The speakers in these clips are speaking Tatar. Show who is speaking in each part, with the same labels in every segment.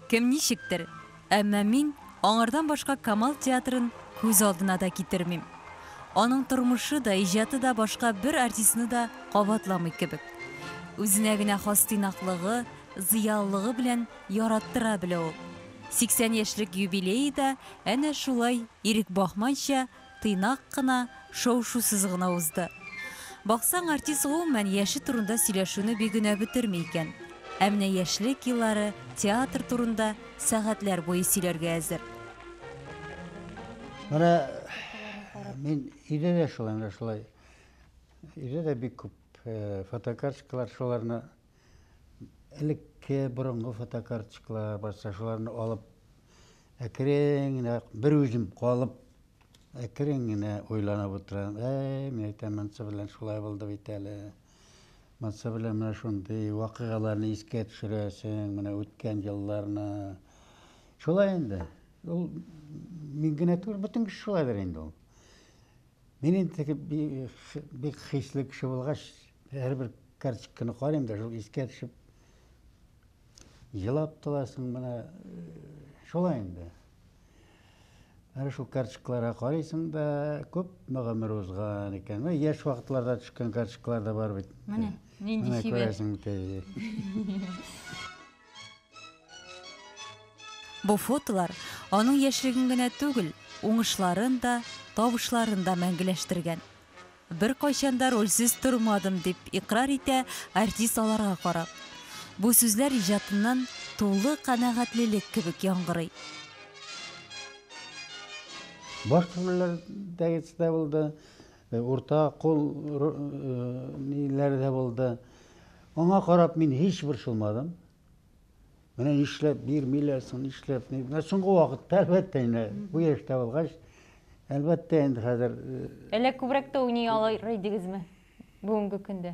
Speaker 1: Кем ничектер, әмма мин аңардан башка Камал театрын күз алдына да китермим. Аның тормышы да, иҗаты да башка бер артистны да кабатламый кебек. Үзенә генә хас тыйнаклыгы, зыялылыгы белән яраттыра белә ул. 80 яшьлек юбилее да әнә шулай ирек бахманча тыйнак кына, шау-шусыз гына узды. Баксаң, артист гомумән яше турында сөйләшүне бик генә бетерми икән. Ә менә яшьлек еллары, театр турында сәгатьләр буе сөйләргә әзер.
Speaker 2: Менә мин өйдә дә шулай, менә шулай. Өйдә дә бик күп фотокарточкалар, шуларны элекке борынгы фотокарточкалар барса шуларны алып әкрен генә бер үзем калып әкрен генә уйланып утырам әй мин әйтәм монысы белән шулай булды бит әле монысы белән менә шундый вакыйгаларны искә төшерәсең менә үткән елларны шулай инде ул мин генә түгел бөтен кеше шулайдыр инде ул Мин инде теге бик хисле кеше булгач, һәрбер карточканы карыйм да, шул искә төшеп елап торасың менә шулай инде. Әнә шул карточкаларга карыйсың да, күпме гомер узган икән. Менә яшь вакытларда төшкән карточкалар да бар бит. Менә
Speaker 1: нинди сибә. Күрәсең, Бу фотолар аның яшьлеген генә түгел, уңышларын да, табышларын да мәңгеләштергән. Беркайчан да рольсез тормадым, дип икърар итә артист аларга карап. Бу сүзләр иҗатыннан тулы канәгатьлелек кебек яңгырый.
Speaker 2: Башкорт милләтәгесе дә булды. Урта кул ниләр дә булды. Аңа карап мин һич борчылмадым. Менә нишләп бирмиләр соң, нишләп? Менә соңгы вакытта, әлбәттә, инде бу яшьтә булгач, әлбәттә, инде хәзер. Әллә күбрәк
Speaker 1: тә уйный алыр идегезме бүгенге көндә?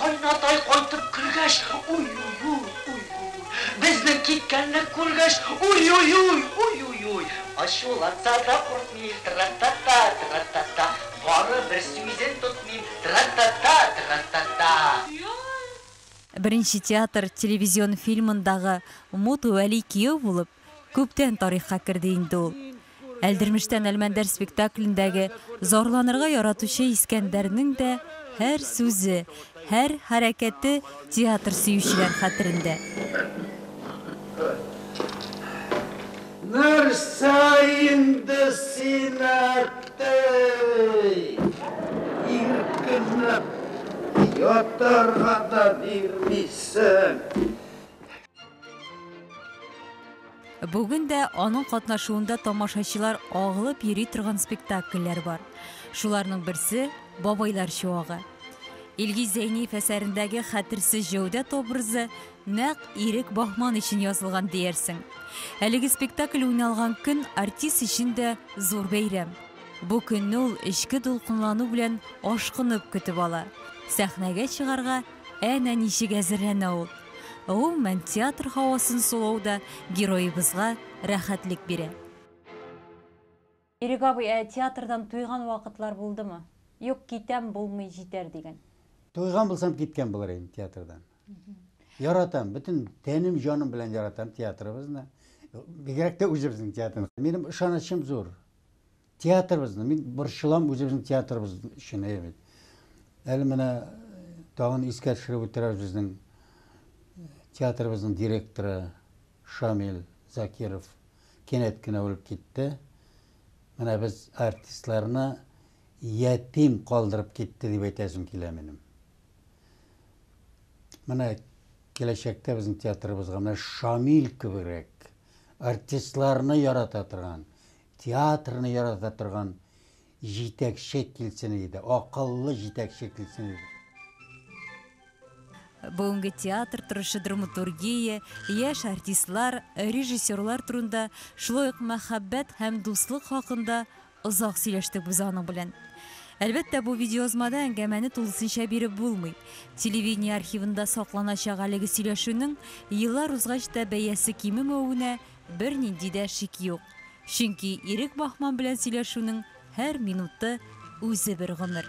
Speaker 2: Кайнатай
Speaker 3: кайтып кергәч, уй-уй-уй, уй-уй-уй, безнең киткәнне күргәч, уй-уй-уй, уй-уй-уй, ачуланса да куркмыйм, тра-та-та, тра-та-та, бары бер сүзен тотмыйм, тра-та-та, тра-та-та.
Speaker 1: Беренче театр, телевизион фильмындагы Мут Вәли кияү булып, Күптән тарихка керде инде ул. Әлдермештән Әлмәндәр спектаклендәге зарланырга яратучы Искәндәрнең дә һәр сүзе, һәр хәрәкәте театр сөючеләр хәтерендә.
Speaker 2: Нәрсә инде син, әттәй? Иркенләп ятарга да бирмисең.
Speaker 1: Бүген дә аның катнашуында тамашачылар агылып йөри торган спектакльләр бар. Шуларның берсе Бабайлар чуагы. Илгиз Зәйниев әсәрендәге хәтерсез Җәүдәт образы нәкъ Ирек Бахман өчен язылган диярсең. Әлеге спектакль уйналган көн артист өчен дә зур бәйрәм. Бу көнне ул эчке дулкынлану белән ашкынып көтеп ала. Сәхнәгә чыгарга Әнә ничек әзерләнә ул! Гомумән, театр һавасын сулау да героебызга рәхәтлек бирә. Ирек абый, ә театрдан туйган вакытлар булдымы? Юк, китәм, булмый, җитәр дигән. Туйган булсам,
Speaker 2: киткән булыр идем театрдан. Яратам, бөтен тәнем, җаным белән яратам театрыбызны. Бигрәк тә үзебезнең театрны. Минем ышанычым зур. Театрыбызны, мин борчылам үзебезнең театрыбыз өчен, әйе бит. Әле менә тагын искә төшереп үтерәбез безнең театрыбызның директоры Шамил Закиров кинәт кенә үлеп китте. Менә без артистларны ятим калдырып китте дип әйтәсем килә минем. Менә киләчәктә безнең театрыбызга менә Шамил кебегрәк артистларны ярата торган, Театрны ярата торган җитәкче килсен иде, акыллы җитәкче килсен иде.
Speaker 1: Бүгенге театр торышы драматургия, яшь артистлар, режиссерлар турында, шулай ук мәхәббәт һәм дуслык хакында озак сөйләштек без аның белән. Әлбәттә, бу видеоязмада әңгәмәне тулысынча биреп булмый. Телевидение архивында сакланачак әлеге сөйләшүнең еллар узгач та бәясе кимемәвенә Бернинди дә шик юк, чөнки Ирек Бахман белән сөйләшүнең һәр минуты үзе бер гомер.